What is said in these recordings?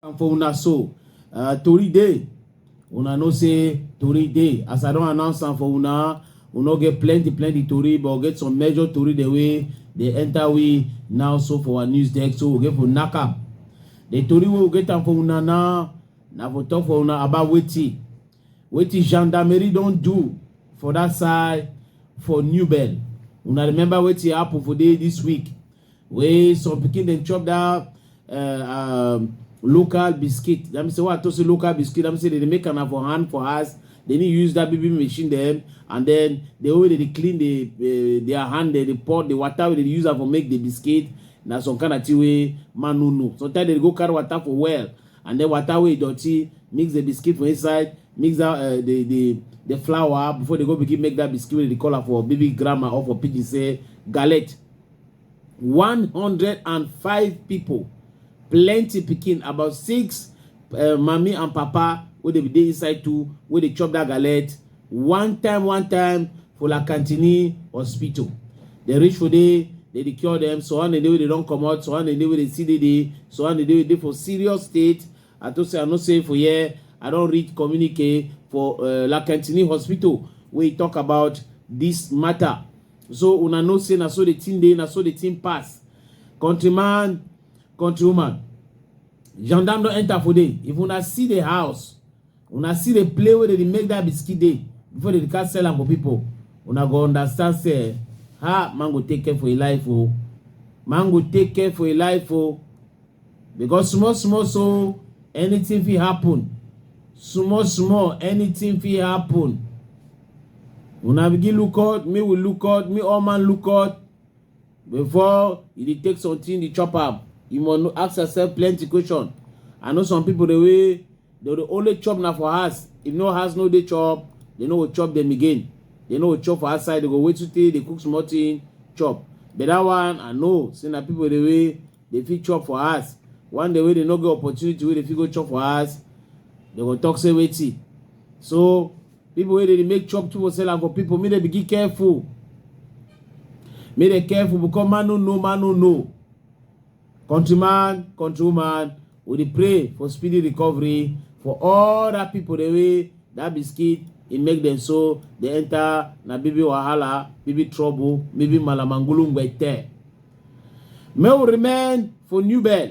and for una so uh, tori dey una know say tori dey as i don announce am for una we no get plenty plenty tori but we get some major tori the way dey enter we now so for our news deck so we get for knack am the tori wey we get am for una now na for talk for una about wetin wetin gendarmerie don do for that side for new bell una remember wetin happen for day this week wey some pikin dem chop that uh, um, local biscuit that mean say what i talk say local biscuit that mean say they dey make am for hand for house they need use that baby machine dem and then the way they dey clean the uh, their hand they dey pour the water wey they dey use am for make the biscuit na some kind of thing wey man no know sometimes they dey go carry water for well and then water wey dirty mix the biscuit for inside mix that uh, the the the flour before they go begin make that biscuit wey dey call am for baby grammar or for pidgin say galette one hundred and five people plenty pikin about six uh, mami and papa wey dey dey inside too wey dey chop that galette one time one time for la cantini hospital dem reach for there dem dey cure dem so one dey wey dey don comot so one dey wey dey still dey there so one dey wey dey for serious state i to say i no say for here i don read communique for uh, la cantini hospital wey e talk about this matter so una know say na so the thing dey na so the thing pass countryman countrywoman gendarme don enter for there if una see the house una see the play wey dey make that biscuit dey before they can sell am for people una go understand say ha man go take care for your life oh man go take care for your life oh because small small so anything fit happen small small anything fit happen una begin look out me we look out me all man look out before you dey take something dey chop am you must know ask yourself plenty question i know some people dey wey dey dey only chop na for house if no house no dey chop they no go chop them again they no go chop for outside they go wait to take dey cook small thing chop but that one i know say na people dey wey dey fit chop for house one day wey dey no get opportunity wey dey fit go chop for house they go talk say wetin so people wey dey make chop too for sell am for people make dem begin careful make dem careful because man no know man no know countryman countrywoman we dey pray for speedy recovery for all that people the way that biscuit e make them so they enter na bibi wahala bibi trouble bibi malamangulu ngwete may we remain for new bell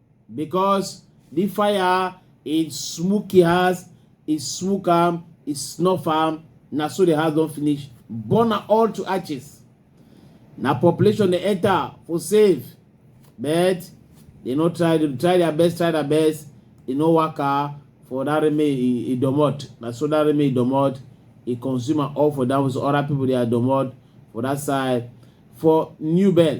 because the fire e smoke e house e smoke am e snuff am na so the house don finish burn am all to ashes na population dey enter for save but they no try dem try their best try their best e no waka for that remain e e domot na so that remain e domot e consume am all for that way so other people dey domot for that side for new bell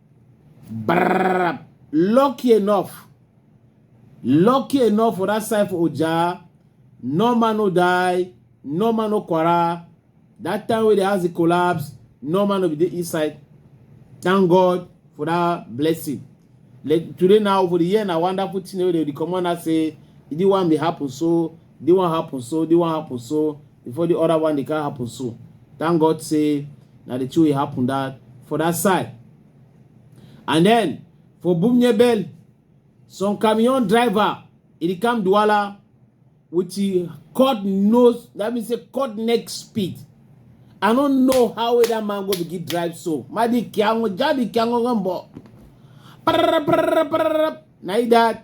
Brrr. Lucky enough. Lucky enough for that side for Oja. No man no die. No man no quarrel. That time when the house collapse, no man no be the inside. Thank God for that blessing. Like today now, for the year, na wonderful thing wey dey come on and say, e dey wan be happen so the one happen so the one happen so before the other one the car happen so thank god say na the two e happen that for that side and then for bumnyebel some camion driver e come duala with e cut nose that means say cut neck speed i no know how wey that man go begin drive so madi kiango jadi kiango gambo na e that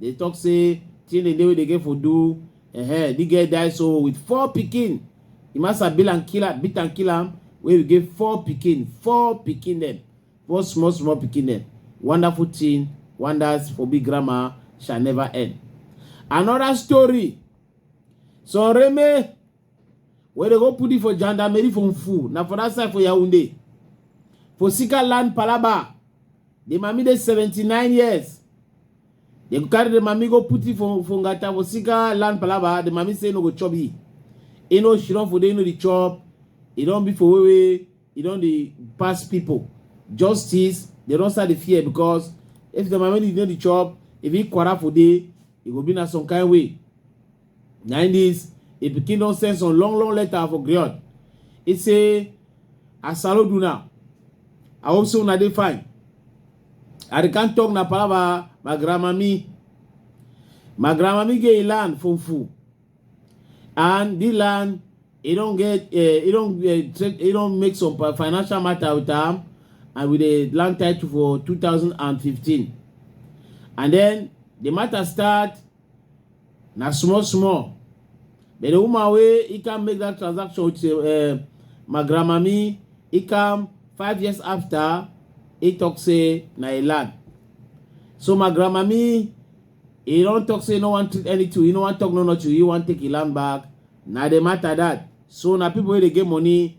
dey talk say training dey wey dey get for do uh-huh. the girl die so with four pikin the master bill and kill am beat and kill am wey we get four pikin four pikin dem four small small pikin dem wonderful thing wonders for big grandma shall never end another story so reme Where they go put it for gendarmerie for Mfu. Now for that side for Yaoundé. For Sika land Palaba. The mami dey 79 years. They go carry the mami go put it for, for Ngata for Sika land Palaba. The mami say no go chop it. You know she don't for they know the chop. It don't be for wewe. It don't the pass people. Justice. They don't start the fear because if the mami did not the chop, if he quarter for day, it go be na some kind way. Na im dis im pikin don send some long long letter for Griot. He say, I salute una. I hope say una dey fine. I dey come talk na palava my grandmami. My grandmami get a land from Fu. And the land, e don get, uh, e don, uh, trade, e don make some pa- financial matter with am and with the land title for 2015. And then the matter start na small small but the woman wey e can make that transaction with uh, my grandmami e come five years after e talk say na e land so my grandmami e don talk say e no wan treat anything e no wan talk no nothing e wan take e land back na the matter that so na people wey dey get money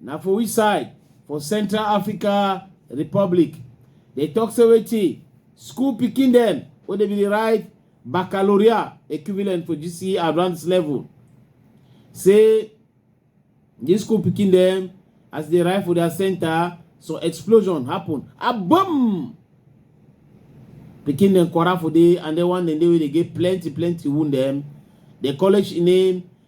na for which side for central africa republic dey talk say wetin school pikin dem wey dey be dey write baccalaureate equivalent for gce advanced level say dis school pikin dem as dey arrive for their center some explosion happen a boom pikin dem kwara for dey and then one dem dey wey dey get plenty plenty wound dem the college name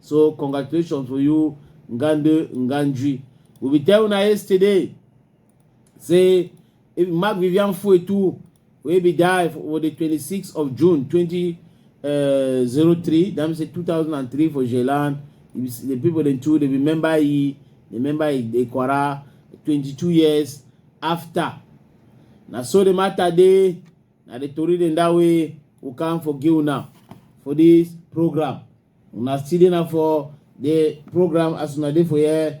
so congratulations for you ngande ngandji we be tell una yesterday say if mark vivian fuetu wey be die for the 26th of june 2003 eh, that means say 2003 for jelan the people dem too dey remember e remember e dey kwara 22 years after na so the matter dey na the tori dem that way we come for give una for this program una still dey na for the program as una dey for here